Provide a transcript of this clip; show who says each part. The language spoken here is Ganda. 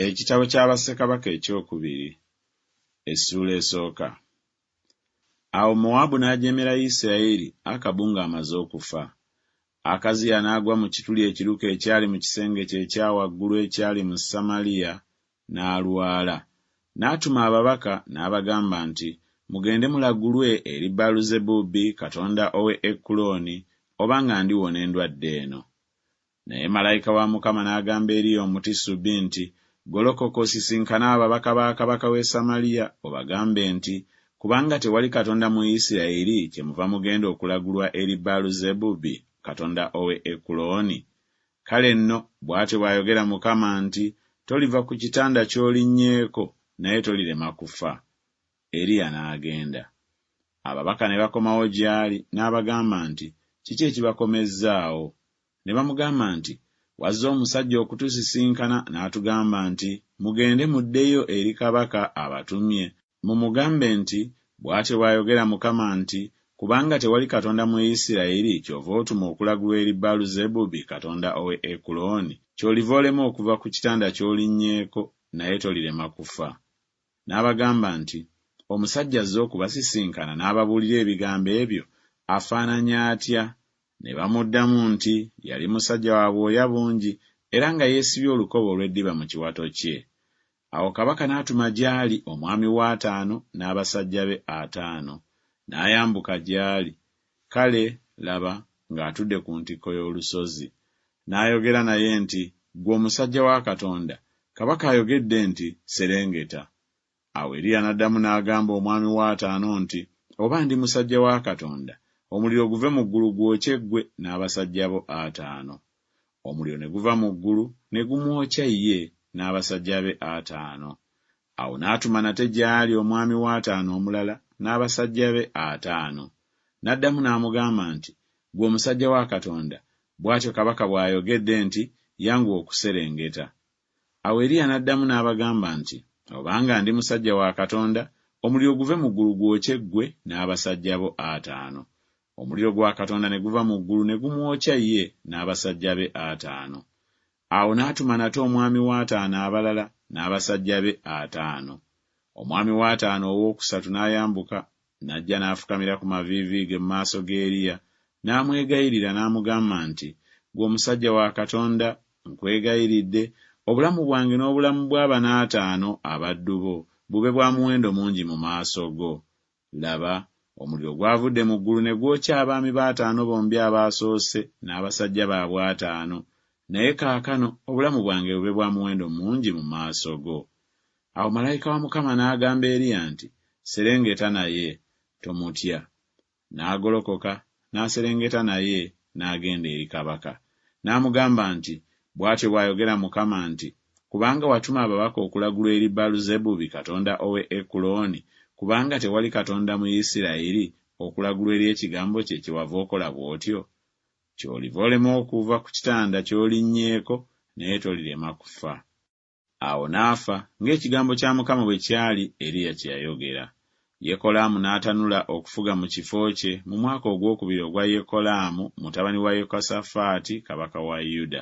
Speaker 1: Ekitabo kya Bassekabaka Ekyokubiri, essuula esooka. Awo Mowaabu n'ajeemera Yisirayeli Akabu ng'amaze okufa. Akaziya n'agwa mu kituli ekiruke ekyali mu kisenge kye ekya waggulu ekyali mu Samaliya, n'alwala. N'atuma ababaka, n'abagamba nti, Mugende mulagulwe eri Baaluzebuubi katonda ow'e Ekulooni obanga ndiwona endwadde eno. Naye malayika wa Mukama n'agamba Eriya Omutisubi nti, Golokoka osisinkane ababaka ba kabaka w'e Samaliya, obagambe nti, Kubanga tewali Katonda mu Yisirayeli, kyemuva mugenda okulagulwa eri Baaluzebubi katonda ow'e Ekulooni? Kale nno, bw'atyo bw'ayogera Mukama nti, Toliva ku kitanda ky'olinnyeko, naye tolirema kufa. Eriya n'agenda. Ababaka ne bakomawo gy'ali, n'abagamba nti, Kiki ekibakomezzaawo? Ne bamugamba nti, Wazze omusajja okutusisinkana, n'atugamba nti, Mugende muddeyo eri kabaka abatumye, mumugambe nti, 'Bw'atyo bw'ayogera Mukama nti, Kubanga tewali Katonda mu Isirayiri, ky'ova otuma okulagula eri Baaluzebubi katonda ow'e Ekulooni, ky'oliva olema okuva ku kitanda ky'olinnyeeko, naye tolirema kufa. n'abagamba nti, Omusajja azze okubasisinkana n'ababuulira ebigambo ebyo afaananye atya? Ne bamuddamu nti, Yali musajja wa bwoya bungi era nga yeesibye olukoba olw'eddiba mu kiwato kye. Awo kabaka n'atuma gy'ali omwami we ataano n'abasajja be ataano, n'ayambuka gy'ali, Kale laba ng'atudde ku ntikko y'olusozi, n'ayogera naye nti, Ggwe omusajja wa Katonda, kabaka ayogedde nti, Serengeta. Awo Eriya n'addamu n'agamba omwami wa ataano nti, Oba ndi musajja wa Katonda, omuliro guve mu ggulu gwokye ggwe n'abasajja bo ataano. Omuliro ne guva mu ggulu ne gumwokya ye n'abasajja be ataano. Awo n'atuma nate gy'ali omwami w'ataano omulala n'abasajja be ataano. N'addamu n'amugamba nti, Ggwe omusajja wa Katonda, bw'atyo kabaka bw'ayogedde nti, Yanguwa okuserengeta. Awo Eriya n'addamu n'abagamba nti, Obanga ndi musajja wa Katonda, omuliro guve mu ggulu gwokye ggwe n'abasajja bo ataano. Omuliro gwa Katonda ne guva mu ggulu ne gumwokya ye n'abasajja be ataano. Awo n'atuma nate omwami w'ataano abalala n'abasajja be ataano. Omwami w'ataano owookusatu n'ayambuka, n'ajja n'afukamira ku maviivi ge mu maaso ga Eriya, n'amwegayirira, n'amugamba nti, Ggwe omusajja wa Katonda, nkwegayiridde, obulamu bwange n'obulamu bwa bano ataano abaddu bo bube bwa muwendo mungi mu maaso go. Laba, omuliro gwavudde mu ggulu ne gwokya abaami be ataano bombi abaasoose n'abasajja baabwe ataano, naye kaakano obulamu bwange bube bwa muwendo mungi mu maaso go. Awo malayika wa Mukama n'agamba Eriya nti, Serengeta naye, tomutya. N'agolokoka, n'aserengeta naye, n'agenda eri kabaka. N'amugamba nti, Bw'atyo bw'ayogera Mukama nti, Kubanga watuma ababaka okulagulwa eri Baaluzebubi katonda ow'e Ekulooni, kubanga tewali Katonda mu Isirayiri, okulagulwa eri ekigambo kye, kyewava okola bw'otyo? Ky'oliva olema okuva ku kitanda ky'olinnyeeko, naye tolirema kufa. Awo n'afa, ng'ekigambo kya Mukama bwe kyali, Eriya kye yayogera. Yekolaamu n'atanula okufuga mu kifo kye, mu mwaka ogwokubiri ogwa Yekolaamu mutabani wa Yekosafaati kabaka wa Yuda.